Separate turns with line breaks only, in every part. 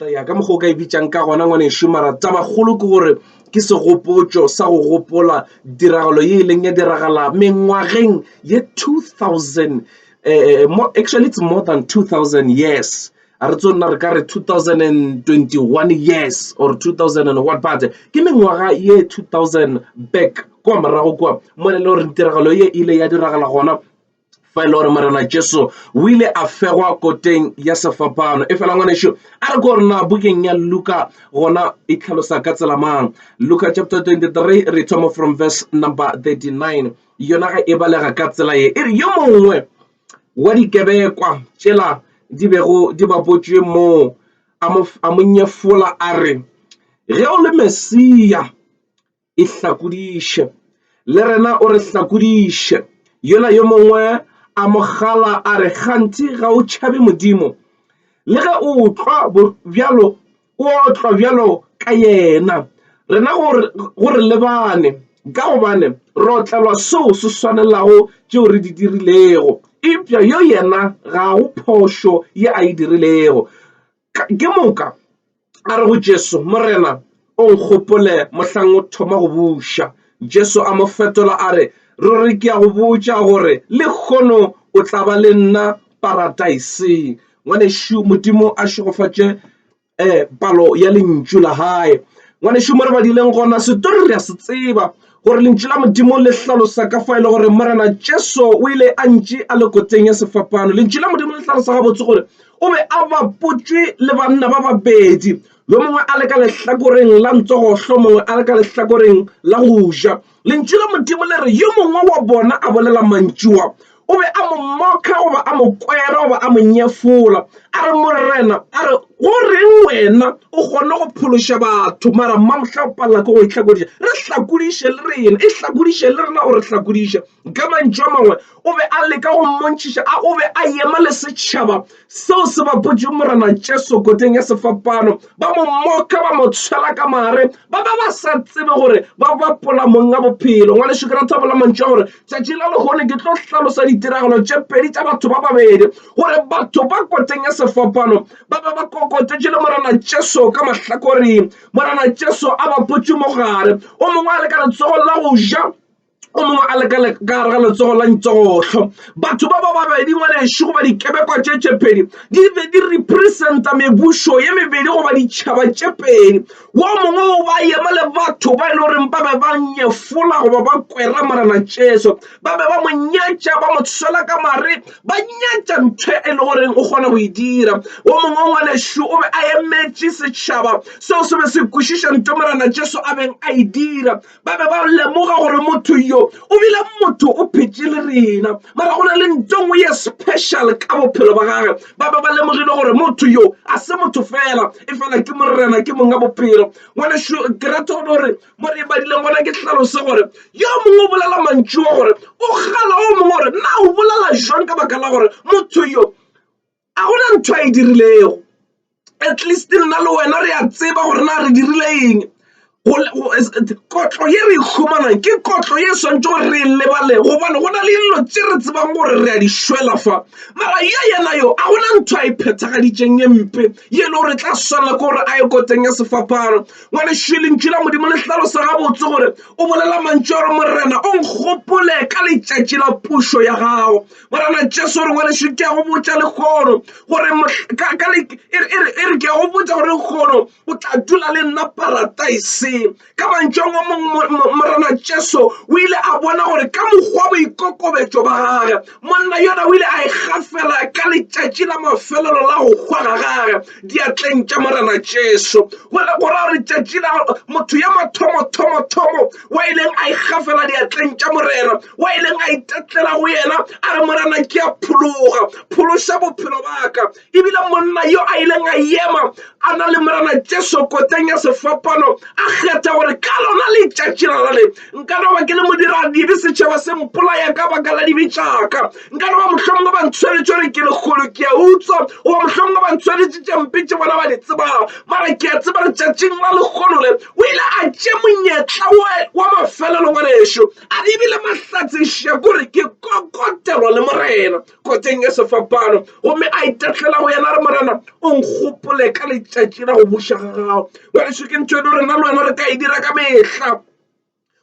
ya ka mokgwa o ka e bitsang ka gona ngwanešu mara tabakgolo ke gore ke segopotšo sa go gopola tiragalo ye e leng ya diragala mengwageng ye 2000 eh, eh, more, actually it's more than 2000 years a re tso nna re ka re 2021 years or 2000 and what but ke mengwaga ye 2000 back kwa morago kwa mo le gore tiragalo ye ile ya diragala gona fa e le gore morena jesu o ile a fegwa koteng ya sefapano e fela ngwaneso a re ko gore na bukeng ya luka gona e tlhalosa ka tsela mang luka chapter 23 re thoma from verse number 39 yona ga e balega ka tsela ye e re yo mongwe wa dikebekwa tšela di bego di bapotšwe moo a mo nyefola a re ge o le mesia e hlakodiše le rena o re hlakodiše yola yo mongwe a mogala a re gantši ga o tšhabe modimo le ge o tlwa bjalo o tlwa bjalo ka yena rena go re lebane ka gobane re otlelwa seo se swanelago tšeo re di dirilego eupša yo yena ga go phošo ye a e dirilego Ke moka a re go Jesu, Morena, o nkgopole mohlang o thoma go buša. Jesu a mo fetola a re, Ruri ke a go botša gore lehono o tla ba le nna paradaiseng. Ngwanešu, Modimo a šegofatše um palo ya lentšu la gae. Ngwanešu, mo re badileng gona, setori re a se tseba gore lentšu la modimo le hlalosa ka fa e le gore morena jesu o ile a ntši a le koteng ya sefapano lentšu la modimo le hlalosa gabotse gore o be a bapotšwe le banna ba babedi yo mongwe a le ka lehlakoreng la ntsogohlo mongwe a le ka lehlakoreng la go ja lentšu la modimo le re yo mongwe wa bona a bolela mantšua o be a mo mmoka goba a mo kwera goba a mo nyefola a re morena a re go reng wena o kgone go phološa batho mara mmamohla o palela ke go itlhakodiša re hlakodiše le rena e hlakodiše le rena gore hlakodiša ka mantšu a mangwe o be a leka go mmontšhiša a o be a ema le setšhaba seo se bapotšeng morena jesu koteng ya sefapano ba mo mmoka ba mo tshwela ka mare ba ba ba sa tsebe gore ba bapola mong a bophelo ngwa lešo ke rathabela mantšu a gore Tšatši la lehono ke tlo hlalosa ditiragalo tše pedi tša batho ba babedi gore batho ba koteng ya sefapano ba be ba kokotetše le Morena Jesu ka mahlakoring. Morena Jesu a ba potše mogare, o mongwe a le ka letsogong la go ja o mongwe a le ka gare ga letsogo la ntsogotlho batho ba ba babedi ngwanešu goba dikebekwa tše tše pedi di be di representa mebušo ye mebedi goba ditšhaba tše pedi wo mongwe o ba yema le batho ba e le goreng ba be ba nyefola goba ba kwera morena jesu ba be ba mo nyatša ba mo tshwela ka mare ba nyatša ntho e le goreng o kgona go e dira wo mongwe wa ngwanešu o be a emetše setšhaba seo se be se kwešiša ntho morena jesu a beng a e dira ba be ba lemoga gore motho yo o bile motho o phetše le rena mara go na le nto ngwe ye special ka bophelo ba gage ba be ba lemogile gore motho yo a se motho fela e fela ke morena ke mong ka bophelo ngwaneso ke rata gone gore mo re badileng gona ke tlhalose gore yo mongwe o bolela mantšu wa gore o gala o mongwe gore na o bolela jwang ka baka la gore motho yo a gona ntho a e dirilego at least nna le wena re a tseba gore na re dirile eng kotlo ye re e humanang ke kotlo ye swantse gore re e lebale gobane go na le dilo tse re tsebang gore re a di shwela fa mara ye yena yo a gona ntho a e phethagaditseng ye mpe ye e le gore tla swana ke gore a ye koteng ya sefaphano ngwane šwelentšu la modimo le tlhalosa gabotse gore o bolela mantšu a gore morena o nkgopole ka letšatši la pušo ya gago Morena Jesu, re ngwanešu ke a go botša lekgono gore e re ke a go botša gore lekgono o tla dula le nna parataiseng ka mantšong o mongwe Morena Jesu o ile a bona gore ka mokgwa boikokobetšo ba gage monna yona o ile a ikgafela e ka letšatši la mafelelo la go hwa ga gage diatleng tša Morena Jesu go ra gore tšatši la motho ya mathomo-thomo-thomo wa ileng a ikgafela diatleng tša morena wa ileng a itatlela go yena a re morena ke a phologa phološa bophelo baka ebile monna yo a ileng a ema a na le morena jesu koteng ya sefapano a kgetha gore ka lona letšatši la lale nka no ba ke le modira dibe setšhaba se mpolaya ka baka la dibe tšaka nka no ba mohlomongwe ba ntshwanetše gore ke lekgolo ke a utswa goba mohlomongwe ba ntshwanetše tše mpe tše bona ba di tsebang mara ke a tseba letšatšing la lekgolo le O ile a tše monyetla we wa mafelelo ngwanešu a di bile mahlatseša kore ke kokotelwa le morena koteng ya sefapano gomme a itatlela go yena re morena o nkgopole ka letšatši la go buša ga gago ngwanešu ke ntho e le rena le wena re ka e dira ka mehla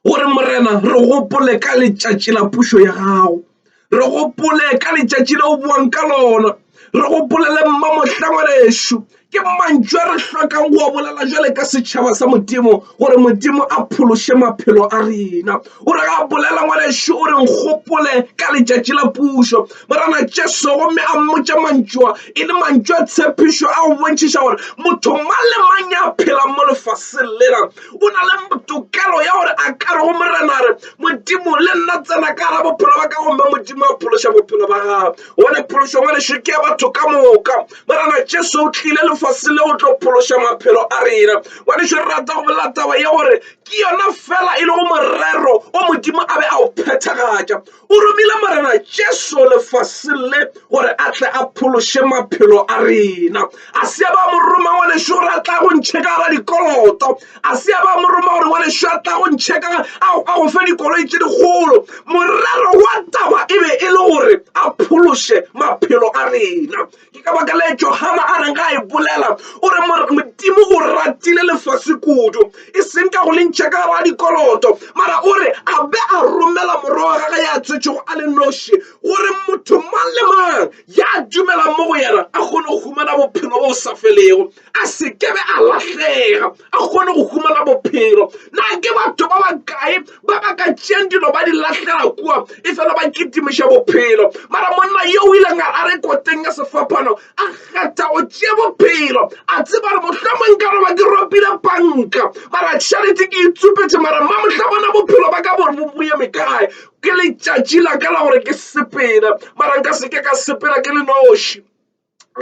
gore morena re gopole ka letšatši la pušo ya gago re gopole ka letšatši le o boang ka lona re gopolele mma mohlangwanešu ke mantšu a re hlokang go a bolela jale ka setšhaba sa modimo gore modimo a phološe maphelo a rena o re ga bolela ngwanešu o re nkgopole ka letšatši la pušo morana jesu gomme a mmotša mantšua e le mantšu a tshepišo a go bontšhiša gore motho mang le mang ya phelang mo lefaseng lela o na le tokelo ya gore a ka re go morena re modimo le nna tsena ka ra bophelo ba ka gomme modimo a phološa bophelo ba gago gone phološo ngwe lešo ke ya batho ka moka morena jesu o tlile lefase le go tlo phološa maphelo a rena ngwaneso re rata go bolela taba ya gore ke yona fela e le go morero o modimo a be a o phethagatša O romile Morena Jesu lefaseng le gore a tle a phološe maphelo a rena. A se ya ba mo roma ngwanešu gore a tla go ntšhe ka gara dikoloto. A se ya ba mo roma gore ngwanešu a tla go ntšhe ka a go fe dikoloi tše dikgolo. Morero wa taba e be e le gore a phološe maphelo a rena. Ke ka baka le Johana a reng ga e bolela o re Modimo o ratile lefase kudu e seng ka go le ntšha ka gare dikoloto mara o re a be a romela morwa wa gage ya tswetšego a le noši gore motho mang le mang ya dumelang mo go yena a kgone go humana bophelo bo sa felego a se kebe a lahlega a kgone go humana bophelo na ke batho ba bakae ba ba ka tšeng dilo ba di lahlela kua e fela ba kitimiša bophelo mara monna yo o ileng a re koteng ya sefapano a kgetha go tšea bophelo a tseba re mohlomong ka roba ke ropile panka mara charity ke itsupetše mara mma mohla bona bophelo ba ka bo boeme kae ke letšatši la ka la gore ke sepela mara nka se ke ka sepela ke le noši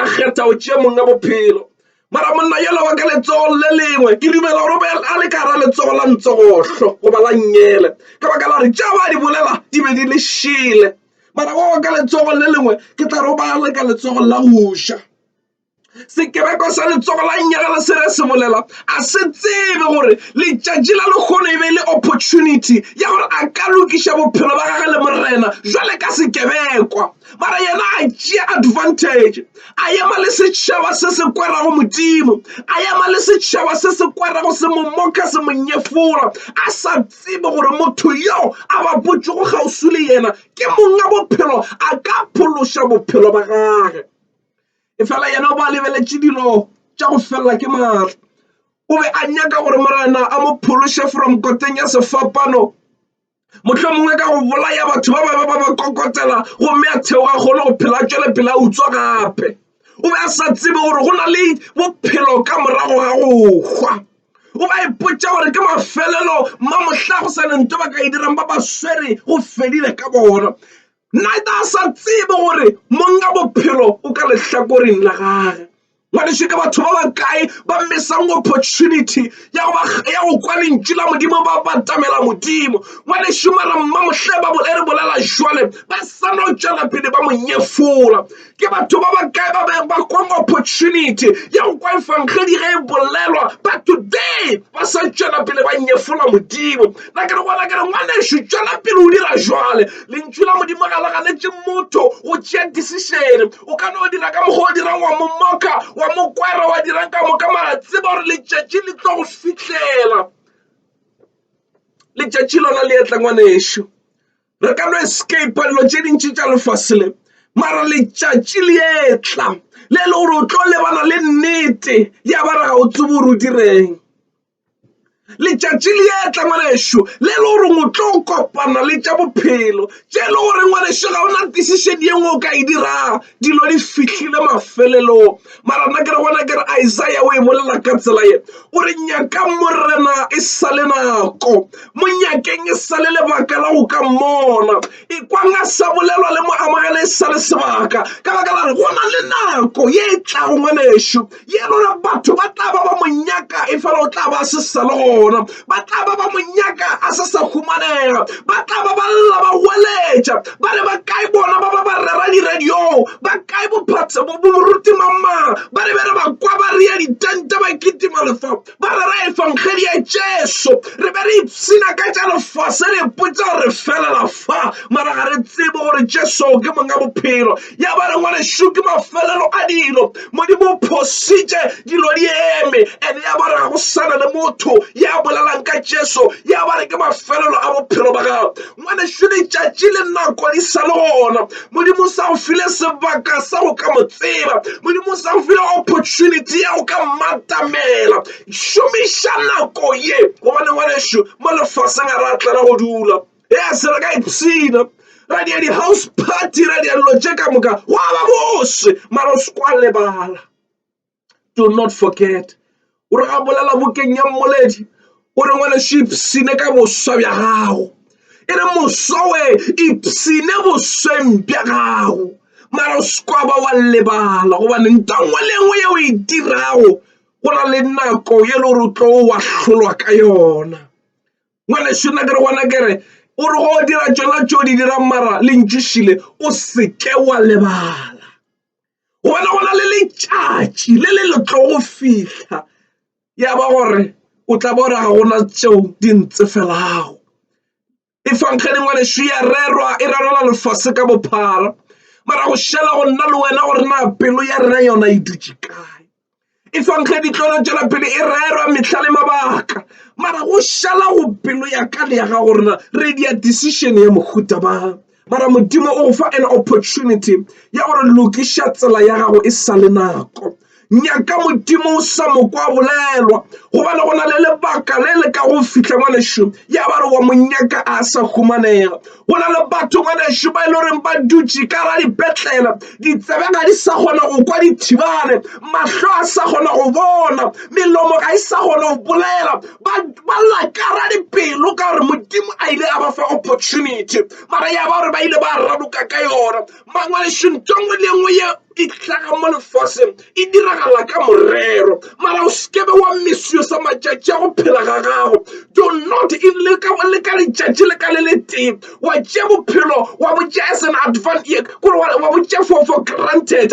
a kgetha go tšea monna bophelo mara monna yola wa ka letsogo le lengwe ke dumela gore be a le ka gara letsogo la ntsogohlo goba la nyele ka baka la gore tša ba di bolela di be di le šele mara wa wa ka letsogo le lengwe ke tla re o ba le ka letsogo la go ja sekebekwa sa letsogo la nyegela se re se bolela a se tsebe gore letšatši la lekgono e be le opportunity ya gore a ka lokiša bophelo ba gage le morena jwale ka sekebekwa mara yena a tšea advantage a ema le setšhaba se se kwerago modimo a ema le setšhaba se se kwerago se mo moka se mo nyefola a sa tsebe gore motho yo a ba potšego kgauswi le yena ke monga bophelo a ka phološa bophelo ba gage e fela yena o ba lebeletše dilo tša go felela ke maatla o be a nyaka gore morena a mo phološe from koteng ya sefapano mohlomongwe ka go bolaya batho ba bangwe ba ba kokotela gomme a theoga kgolo go phela tšwele pele a utswa gape o be a sa tsebe gore go na le bophelo ka morago ga go hwa o ba ipotsa gore ke mafelelo ma mohla go sa nento ba ka e dirang ba ba swere go fedile ka bona nata a sa tsebe gore monga bophelo o ka lehlakoreng la gage ngwaneso ke batho ba bakae ba missang opportunity ya go kwa lentšu la modimo ba batamela modimo ngwaneso mara mmamohle ba e re bolela jwale ba sana o tšwela pele ba monyefola ke batho ba bakae ba beng ba kwang opportunity ya go kwa efangedi ge e bolelwa but today ba sa tšwela pele ba nyefola modimo na ke re gona ke re ngwaneso tšwela pele o dira jwale lentšu la modimo ga le ganetse motho go tšea decision O ka no dira ka mokgwa o dirang wa mo moka, wa mo kwara, wa dirang ka moka, mara tseba gore letšatši le tlo go fihlela. Letšatši lona le etla ngwanešu. Re ka no escapa dilo tše dintši tša lefase le, mara letšatši le etla le e le gore o tlo lebana le nnete ya ba re ga o tsebo o direng. letšatši le ya tla ngwanešu le le gore o tlo kopana le tša bophelo tše e le gore ngwanešu ga ona decision ye nngwe o ka e dirago dilo di fihlile mafelelong mara nna ke re gona ke re isaiah o e bolela ka tsela ye o re nyaka morena e sa le nako monyakeng e sa le lebaka la go ka mmona ekwang a sa bolelwa le mo amogele e sa le sebaka ka baka la re go na le nako ye e tlago ngwanešu ye lona batho ba tla ba ba mo nyaka e fela o tla ba a se sa le gona ba tla ba ba mo nyaka a se sa humanega ba tla ba ba lla ba weletša ba re ba kae bona ba ba ba rera diradiong ba kae boruti mamang ba re be re ba kwa ba rea ditente ba kitima lefa ba re ra efangedi ya Jesu re be re ipshina ka tša lefase re ipotsa gore re felela fa mara ga re tsebe gore Jesu ke monga bophelo ya ba re ngwanešu ke mafelelo a dilo modimo o phositše dilo di eme and ya ba re ga go sana le motho ya bolelang ka Jesu ya ba re ke mafelelo a bophelo ba gago Ngwanešu, letšatši le nako di sa le gona. Modimo o sa go file sebaka sa go ka mo tseba. Modimo o sa go file opportunity ya go ka mmatamela. Šomiša nako ye, gobane ngwanešu, mo lefaseng a re a tlela go dula. E a se re ka ipshina ra dia di-house party ra dia dilo tše ka moka gwa ba bose mara o se kwa lebala do not forget o re a bolela bokeng ya mmoledi o re ngwane šipsine ka boswa bja gago e re moswa we ipsine bosweng bja gago mara o sekwaba wa lebala gobane ntangwe le nngwe ye o e dirago go na le nako ye le gore o tlo wa hlolwa ka yona ngwane šona ke re gona kere o re go dira tsona tso di dirang mara le ntšešile o seke wa lebala gobane go na le letšatši le le le tlo go fihla ya ba gore o tla ba gore ga gona tšeo di ntse felago e fankgane ngwaneso ya rerwa e rerela lefase ka bophara mara go šela go nna le wena gore na pelo ya rena yona e dutše kae e fang ge ditlolo tšwela pele e rerwa mehla le mabaka mara go šala go pelo ya ka le ya ga gorena re dia decision ya mohuta ba mara modimo o go fa an opportunity ya gore lokiša tsela ya gago e sa le nako nyaka modimo o sa mokwa bolelwa gobane go na le lebaka le le ka go fitlha ngwanešu ya ba re wa monyaka a sa humanega go na le batho ngwanešu ba e le goreng ba dutše ka ra dipetlela ditsebe ga di sa kgona go kwa dithibane mahlo a sa kgona go bona melomo ga e sa kgona go bolela ba lla ka ra dipelo ka gore modimo a ile a ba fa opportunity mara ya ba gore ba ile ba radoka ka yona Mangwadišo nto nngwe le nngwe ye e hlaga mo lefaseng e diragala ka morero. Mara o sekebe wa misusa matšatši a go phela ga gago. Do not in le ka le ka letšatši le ka le le tee wa tšea bophelo wa botšea as an advantage gore wa botšea for for granted.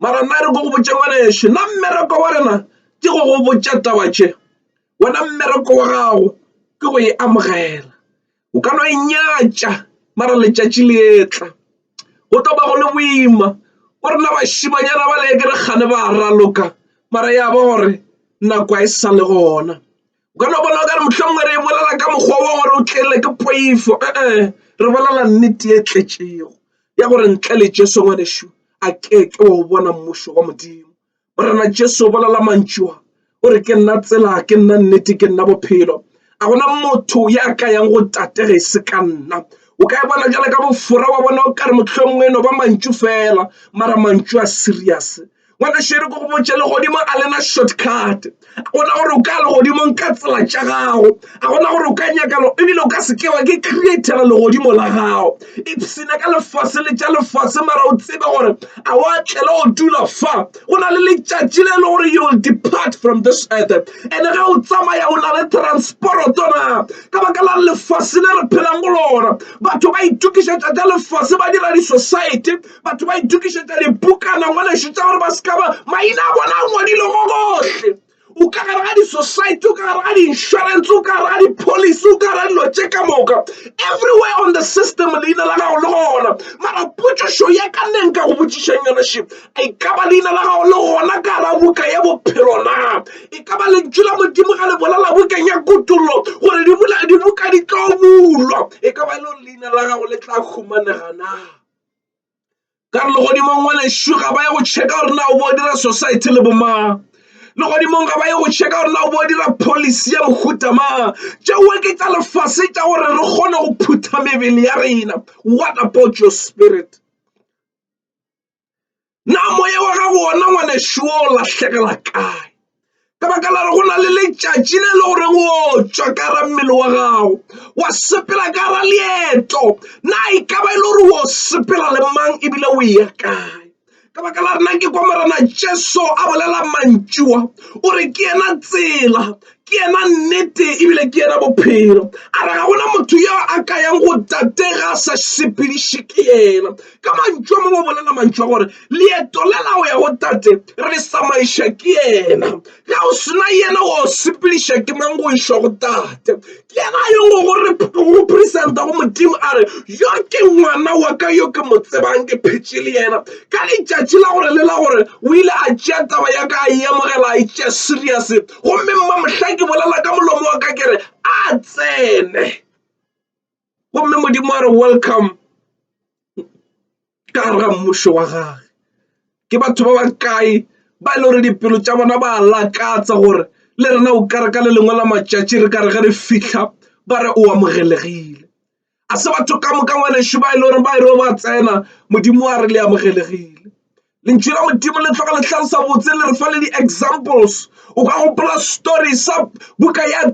mara nna re ko go botse ngwana ešo nna mmereko wa rena ke go go botsa taba tše wena mmereko wa gago ke go e amogela o ka no e nyatša mara letšatši le etla go tlo ba go le boima o rena bašimanyana ba le ke re kgane ba raloka mara ya ba gore nako e sa le gona o ka no bona o ka re mohlomongwe re e bolela ka mokgwa wo gore o tlele ke poifo ee re bolela nnete e tletšego ya gore ntle le jesu ngwanešu a ke ke wa o bona mmušo wa modimo morena jesu o bolela mantšua o re ke nna tsela ke nna nnete ke nna bophelo a gona motho ya ka yang go tate ge e se ka nna o ka e bona jale ka bofora wa bona o ka re mohlomongwe no ba mantšu fela mara mantšu a serious ngwana šere ko go botša legodimo a lena shortcut a gona gore o ka legodimong ka tsela tša gago a gona gore o ka nyakalo ebile o ka se ke wa ke createla legodimo la gago ipshina ka lefase le tša lefase mara o tsebe gore a wa tlela o dula fa go na le letšatši le e le gore you will depart from this earth and ge o tsamaya o na le transporoto na ka baka la lefase le re phelang go lona batho ba itokišetša tša lefase ba dira di-society batho ba itukišetša dipukana ngwalešu tša gore ba se ka ba maina a bona a ngwadile gogohle o ka gare ga di-society o ka gare ga di-insurance o ka gare ga di-policy o ka gare ga dilo tše ka moka everywhere on the system leina la gago le gona mara potšišo ya ka neng ka go botšišeng yona ship e ka ba leina la gago le gona ka ra buka ya bophelo na e ka ba lentšu la modimo ga le bolela bukeng ya kutollo gore dibuka di tlo bulwa e ka ba e le leina la gago le tla humanega na ka re legodimong wa lešo ga ba ye go checka gore na o bo dira society le bomang legodimong ga ba ye go checka gore na o bo dira policy ya mohuta mang tšeo ke tša lefase tša gore re kgone go phutha mebele ya rena what about your spirit na moya wa gago ona ngwanešu o lahlegela kae ka baka la re go na le letšatši le le gore o tswa ka ra mmele wa gago wa sepela ka ra leeto na e ka ba e le gore o sepela le mang ebile o ya kae ka baka la rena ke kwa morena jesu a bolela mantšiwa o re ke yena tsela ke yena nnete ebile ke yena bophelo a re ga gona motho yo a ka yang go tate ga a sa sepediše ke yena ka mantšu a mangwe bolela mantšu a gore leeto le la go ya go tate re le samaiša ke yena ga o sena yena wa o sepediša ke mang go išwa go tate ke yena a yong go re go presenta go modimo a re yo ke ngwana wa ka yo ke mo tsebang ke phetše le yena ka letšatši la gore le la gore o ile a tšea taba ya ka a e amogela a e tšea serious gomme mma mohlang ke bolela ka molomo wa ka ke re a tsene gomme modimo a re welcome ka ra mmušo wa gage ke batho ba ba kae ba e le gore dipelo tša bona ba lakatsa gore le rena o kare ka le lengwe la matšatši re kare ge re fitlha ba re o amogelegile a se batho ka moka ngwanešu ba e le gore ba e re ba tsena modimo wa re le amogelegile lentšu la modimo le tloga le tlhalosa botse le re fa le di-examples o ka gopola story sa buka ya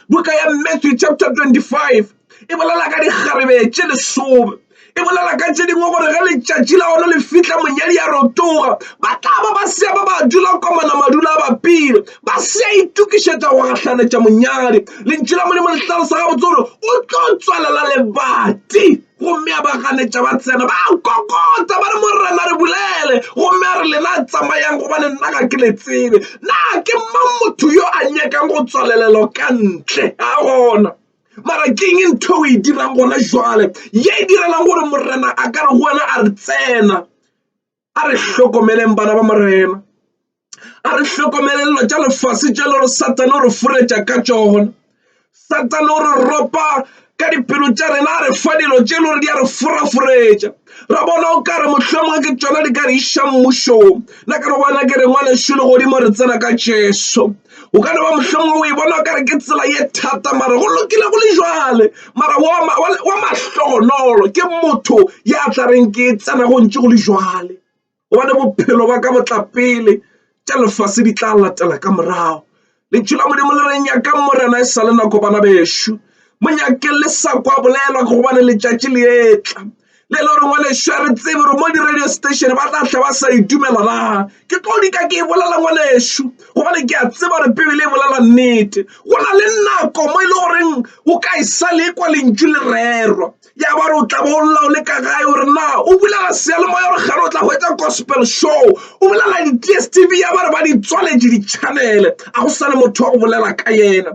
buka ya matthew chapter 25 e bolela ka dikgarebe tše lesome e bolela ka tše dingwe gore ge letšatši la gona le fitlha monyadi a rotoga ba tla ba ba sea ba ba dula komana madula a bapile ba sea itokišetša go gahlanetša monyadi lentši la modimo le tlalosa gabotse gore o tlo tswalela lebati gomme a ba ganetša ba tsena ba kokota ba re morena re bulele gomme a re lena a tsamayang gobane nna ga ke le tsebe na ke mang motho yo a nyakang go tswalelelo ka ntle ga gona mara keng e ntho e dirang gona jwale ye e direlang gore morena a ka re go wena a re tsena a re hlokomeleng bana ba morena a re hlokomelelo tša lefase tša le re satane o re foretša ka tšona satane o re ropa ka dipelo tša rena a re fa dilo tše e le gore di a re foraforetša ra bona o kare mohlomongwe ke tšona di ka re iša mmušong na ka re bona ke re ngwanešu le godimo re tsena ka jesu o ka leba mohlomong o e bona kare ke tsela ye thata mara go lokile go le jale mara wa mahlogonolo ke motho ya tla reng ke tsena go ntse go le jale gobane bophelo ba ka botla pele tša lefase di tla latela ka morago lentšu la modimo le re nyaka morena e sa le nako bana bešo monyake le sa kwa bolelwa gobane letšatši le etla le le gore ngwaneša re tsebe gore mo di-radio station ba tla tlhe ba sa itumela na ke tlo dika ke e bolela ngwanešu gobane ke a tseba gore pebele e bolela nnete go na le nako mo e le goreng o ka e sa le kwa lentšu le rerwa ya ba re o tla bo o lla o le ka gae gore na o bulela seyalemoya gore gare o tla go etsa gospel show o bolela di-t s t v ya ba re ba di tswaletše di-channele a go sa le motho wa go bolela ka yena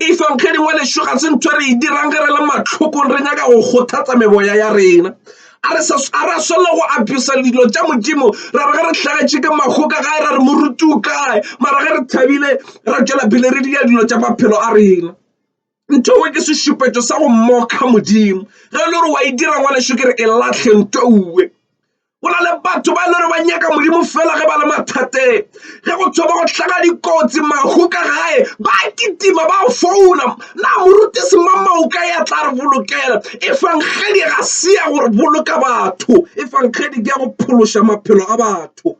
Efang ge dingwe lešo ga se ntho re e dirang ge re le mahlokong re nyaka go kgothatsa meboya ya rena a re swanela go apesa dilo tša modimo ra re ge re hlagetše ke mago ka gae ra re moruti o kae mara ge re thabile ra tšwela pele re dira dilo tša maphelo a rena ntho ewe ke sešupetso sa go mokga modimo ge e le gore wa e dira ngwaneso ke re e latlhe ntho uwe go na le batho ba e lere ba nyaka modimo fela ge ba le mathateng ge go thoma go tlhaga dikotsi mahu ka gae ba kitima ba founa na morutisi mamao ka ya tla re bolokela efangedi ga se ya go boloka batho efangedi ke ya go phološa maphelo a batho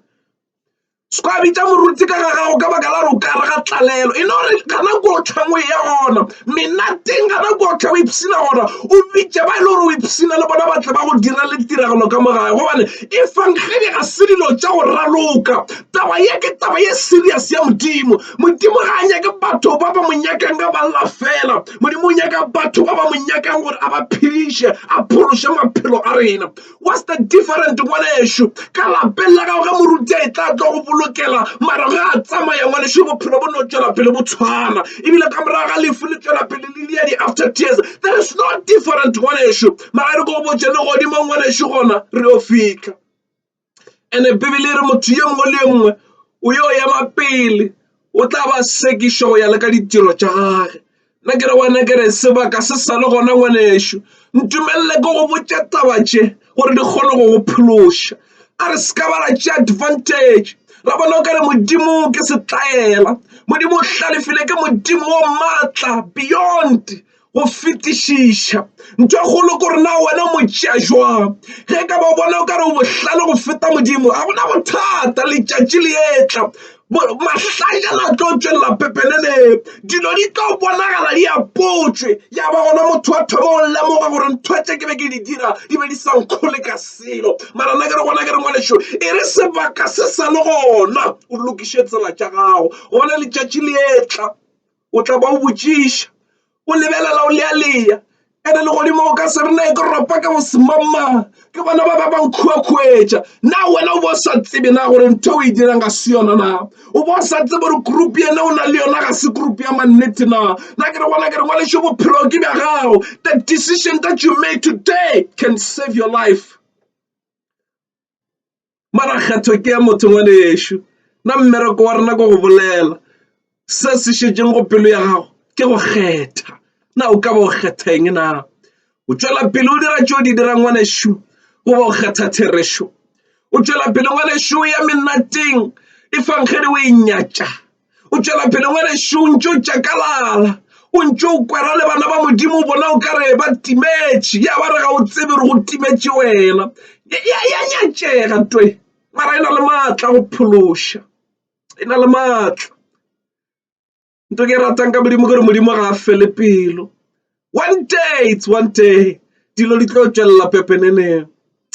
se ka bitša moruti ka ga gago ka baka la gore o ka re ga tlalelo e no re gana ko tlhangwe ya gona menateng gana ko tlha o ipshina gona o bitše ba e le gore o ipshina le bona batle ba go dira le tiragalo ka mo gae gobane e fangedi ga se dilo tša go raloka taba ye ke taba ye serious ya modimo modimo ga a nyake batho ba ba mo nyakang ka ba lla fela modimo o nyaka batho ba ba mo nyakang gore a ba phediše a phološe maphelo a rena What's the different ngwanešu ka lapeng la gago ge moruti e tla tlo go bolokela mara ge a tsamaya ngwanešu bophelo bo no tšwela pele bo tshwana ebile ka morago ga lefu le tšwela pele le lia di-after tears there is no different ngwanešu mara re ko botse le godimo ngwanešu gona re yo fitlha ande bibele e re motho ye mongwe le ye mongwe o yo ema pele o tla ba sekišwa go ya le ka ditiro tša gage nna ke re wena ke re sebaka se sa le gona ngwanešu ntumelele ko go botša taba tše gore di kgone go go phološa a re se ka ba ra tše advantage ra bona o ka re modimo ke setlaela modimo o hlalefile ke modimo o maatla beyond go fetišiša ntho e kgolo ko rena wena motšea jwang ge ka ba bona o ka re o bohlale go feta modimo ga gona bothata letšatši le etla mahlajana a tlo tšwelela pepeneneng dilo di tlo bonagala di apotswe ya ba gona motho wa thoma o lemoga gore ntho tše ke be ke di dira di be di sa nkgole ka selo mara na ke re gona ke re ngwalešo e re sebaka se sa le gona o lokiše tsela tša gago gona letšatši le etla o tla ba o botšiša o lebelela o lealeya ene legodimo o ka se re na e ke ropa ka bosemangmang ke bona ba ba ba nkhuakhuetša na wena o bo o sa tsebe na gore ntho o e dirang ga se yona na o bo o sa tsebe gore group ene o na le yona ga se group ya mannete na na ke re gona ke re ngwalešo bophelo ke bja gago the decision that you made today can save your life mara kgetho ke ya motho ngwane ešo na mmereko wa rena ko go bolela se se šetšeng go pelo ya gago ke go kgetha na o ka ba o kgetha eng na o tšwela pele o dira tšeo di dirang ngwane šu goba o kgetha therešo o tšwela pele ngwane šu ya menateng e fangkgedi o e nyatša o tšwela pele ngwanešu o ntse o tšakalala o ntse o kwera le bana ba modimo o bona o ka re ba timetše ya ba re ga o tsebe re go timetše wena ya nyatšega twe mara e na le maatla go phološa e na le maatla nto ke e ratang ka modimo ke re modimo ga a fele pelo one day it's one day dilo di tlo tšwelela pepeneneng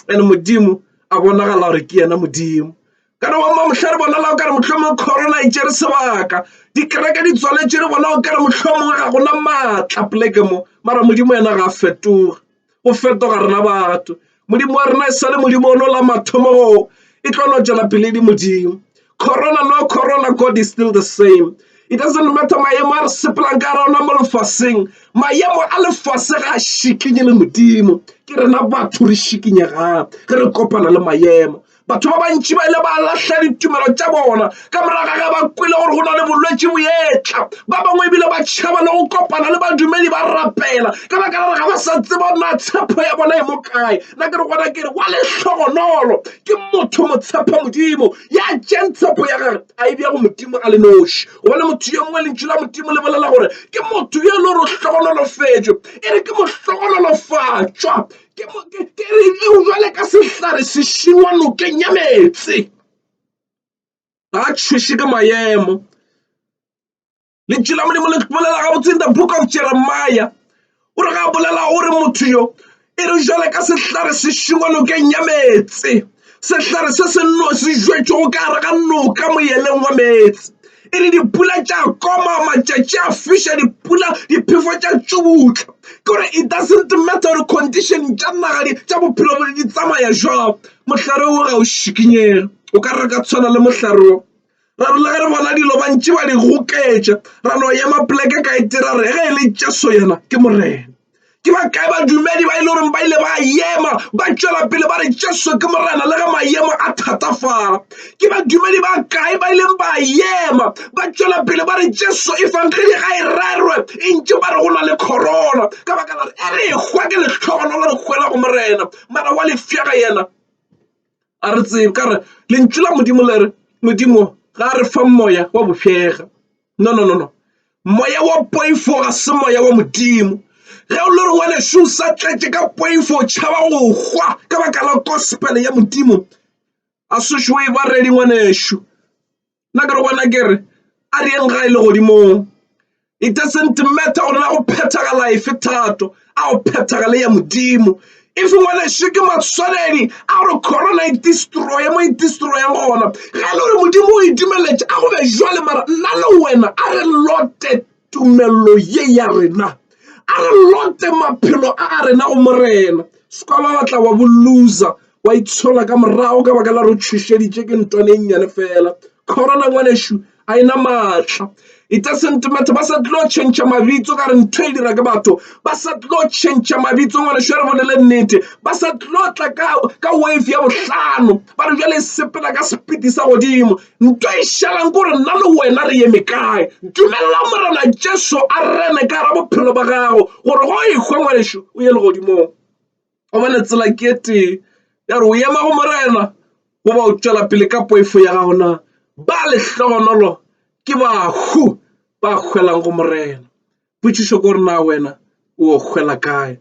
and modimo a bonagala gore ke yena modimo ka re wama motlha re bonala o kare motlhomong corona e tsere sebaka dikereke di tswaletše re bona o kare motlhomong ga gona maatla poleke mo mara modimo yena ga a fetoga go fetoga rena batho Modimo wa rena e sa le Modimo o no la mathomo go e tlo no tšwela pele di Modimo corona no corona God is still the same it doesn't matter maemo a re sepelang ka rona mo lefaseng maemo a lefase ga a šikinye le Modimo ke rena batho re šikinyegang ge re kopana le maemo Batho ba bantši ba ile ba lahla ditumelo tša bona ka moraga ge ba kwele gore go na le bolwetši boetla. Ba bangwe ebile ba tšhaba le go kopana le badumedi ba rapela ka baka la gore ga ba sa tseba na tshepo ya bona e mo kae. Nna ke re gona ke re wa lehlogonolo ke motho motshepa Modimo ya tšeng tshepo ya gage a e bja go Modimo a le noši, gobane motho yo mongwe lentšu la Modimo le bolela gore ke motho yo e le gore o hlogonolofetšwe, e re ke mohlogonolofatšwa. ke mo- ke- ke re eo jwale ka sehlare se šiwa nokeng ya meetse ga a tšhweše ke maemo lentšu la modimo le bolela gabotse in the book of jeremiah o re ga a bolela o re motho yo e re jwale ka sehlare se šiwa nokeng ya meetse sehlare se se nno se jwetšwego ka gare ga noka moyeleng wa meetse e le dipula tša koma matšatši a fiša dipula diphefo tša tšubutla kore it doesn't matter gore condition tša naga tša bophelo bone di tsamaya jwang mohlare wo ga o šikinyega o ka re ka tshwana le mohlare wo ra rile ge re bona dilo bantši ba di goketša ra no ema poleke ka etira re ge e le jesu yena ke morena ke ba kae badumedi ba e le goreng ba ile ba ema ba tšwela pele ba re jesu ke morena le ge maemo a thatafala ke badumedi ba kae ba ileng ba ema ba tšwela pele ba re jesu e fangedi ga e rerwe e ntše ba re go na le corona ka baka la re e re e hwa ke lehlogono le re hwela go morena mara wa lefšega yena a re tsebe ka re lentšu la modimo le re modimo ga a re fa moya wa bofega no no no no moya wa poifo ga se moya wa modimo ge o le re ngwanešu o sa tletše ka poifo o tšhaba go hwa ka baka la gospel ya modimo a sešo e baredi ngwanešu nna ka re bona ke re a re eng ga e le godimong it doesn't matter gore na go phethagala efe thato a go phethagale ya modimo if ngwana še ke matshwanedi a gore corona e destroye mo e destroyang gona ga e le gore modimo o e dumeletše a go be jwale mara nna le wena a re lote tumello ye ya rena a re lote maphelo a a rena go morena sekwaba wa tla wa bo loser wa itshola ka morago ka baka la re tšhošeditše ke ntwane e nnyane fela corona ngwanešu a ena maatla it doesn't matter ba sa tlo tšhentšha mabitso ka re ntho e dira ke batho ba sa tlo tšhentšha mabitso ngwanešu ya re bolele nnete ba sa tlo tla ka wave ya bohlano ba re jale sepela ka sepiti sa godimo Nto e šalang kore nna le wena re eme kae. Dumelela Morena Jesu a rene ka ra bophelo ba gago gore go ekgwe ngwanešu o ye legodimong. Gobane tsela ke e tee ya gore o ema go Morena goba o tšwela pele ka poifo ya gago na. Ba lehlogonolo ke bahu ba hwelang go Morena. Potšišo ke gore na wena o hwela kae?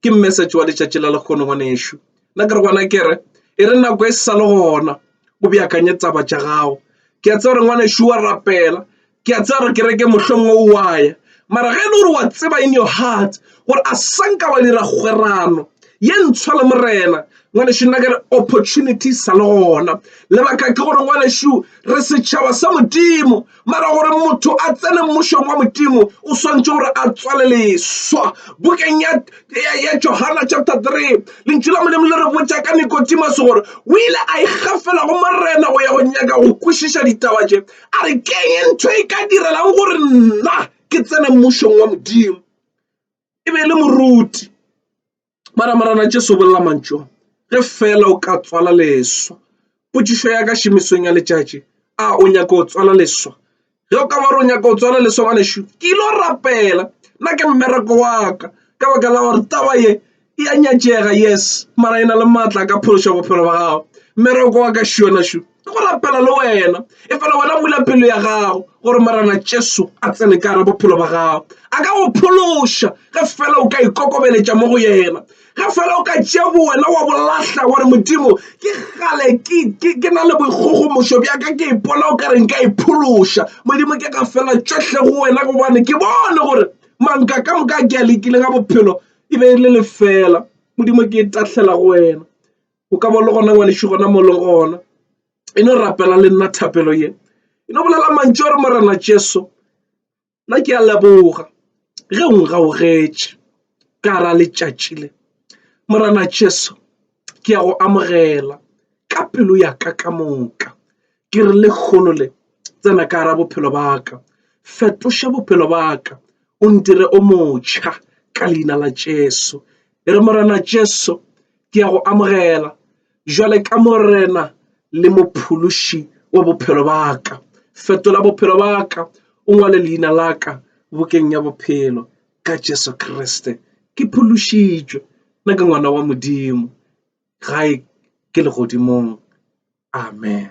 Ke message wa letšatši la lekgono ngwanešu. Nna ke re gona ke re e re nako e sa le gona o beakanye taba tša gago. Ke a tseba gore ngwanešu wa rapela ke a tseba gore ke reke mohlomongwe o wa ya mara ge e le gore wa tseba in your heart gore a sanka wa dira kgwerano ye ntshwa le morena ngwanešu nna ke re opportunity sa le gona lebaka ke gore ngwanešu re setšhaba sa modimo mara gore motho a tsene mmušong wa modimo o swantse gore a tswale leswa bokeng ya, ya, ya johana chapter 3 lentši la modimo le re botša ka nikotimase gore o ile a ikgafela go morena go ya go nyaka go kwešiša ditaba tše a re keng e ntho e ka direlang gore nna ke tsene mmušong wa modimo e be e le moruti Mara Morena Jesu bolela mantšu a, Ge feela o ka tswala leswa. Potšišo ya ka šomisong ya letšatši, a o nyaka go tswala leswa? Ge o ka ba gore o nyaka go tswala leswa, ngwanešu, ke ile go rapela. Nna ke mmereko wa ka, ka baka la gore taba ye e a nyatšega, yes, mara e na le matla a ka phološa bophelo ba gago. Mmereko wa ka, šo, ngwanešu. ke go rapela le wena e fela wena bula pelo ya gago gore morena jesu a tsene ka re bophelo ba gago a ka go phološa ge fela o ka ikokobeletša mo go yena ge fela o ka tšea bo wena wa bolahla gore modimo ke gale ke na le boikgogomošo bjaka ke ipona o ka re nka iphološa modimo ke ka fela tšohle go wena gobane ke bone gore manka ka moka ke a lekile ga bophelo e be e le lefela modimo ke e tahlela go wena o ka ba le gona ngwanešu gona mo leng gona e no rapela le nna thapelo ye e no bolela mantšu a re morena jesu nna ke a leboga ge o ngaogetše ka ra letšatši le morena jesu ke a go amogela ka pelo ya ka ka moka ke re le kgolo le tsena ka ra bophelo ba ka fetoša bophelo ba ka o ntire o motšha ka leina la jesu e re morena jesu ke ya go amogela jwale ka morena le mophološi wa bophelo ba ka fetola bophelo ba ka o ngwale leina la ka bokeng ya bophelo ka jesu kriste ke phološitšwe nna ke ngwana wa modimo gae ke legodimong amen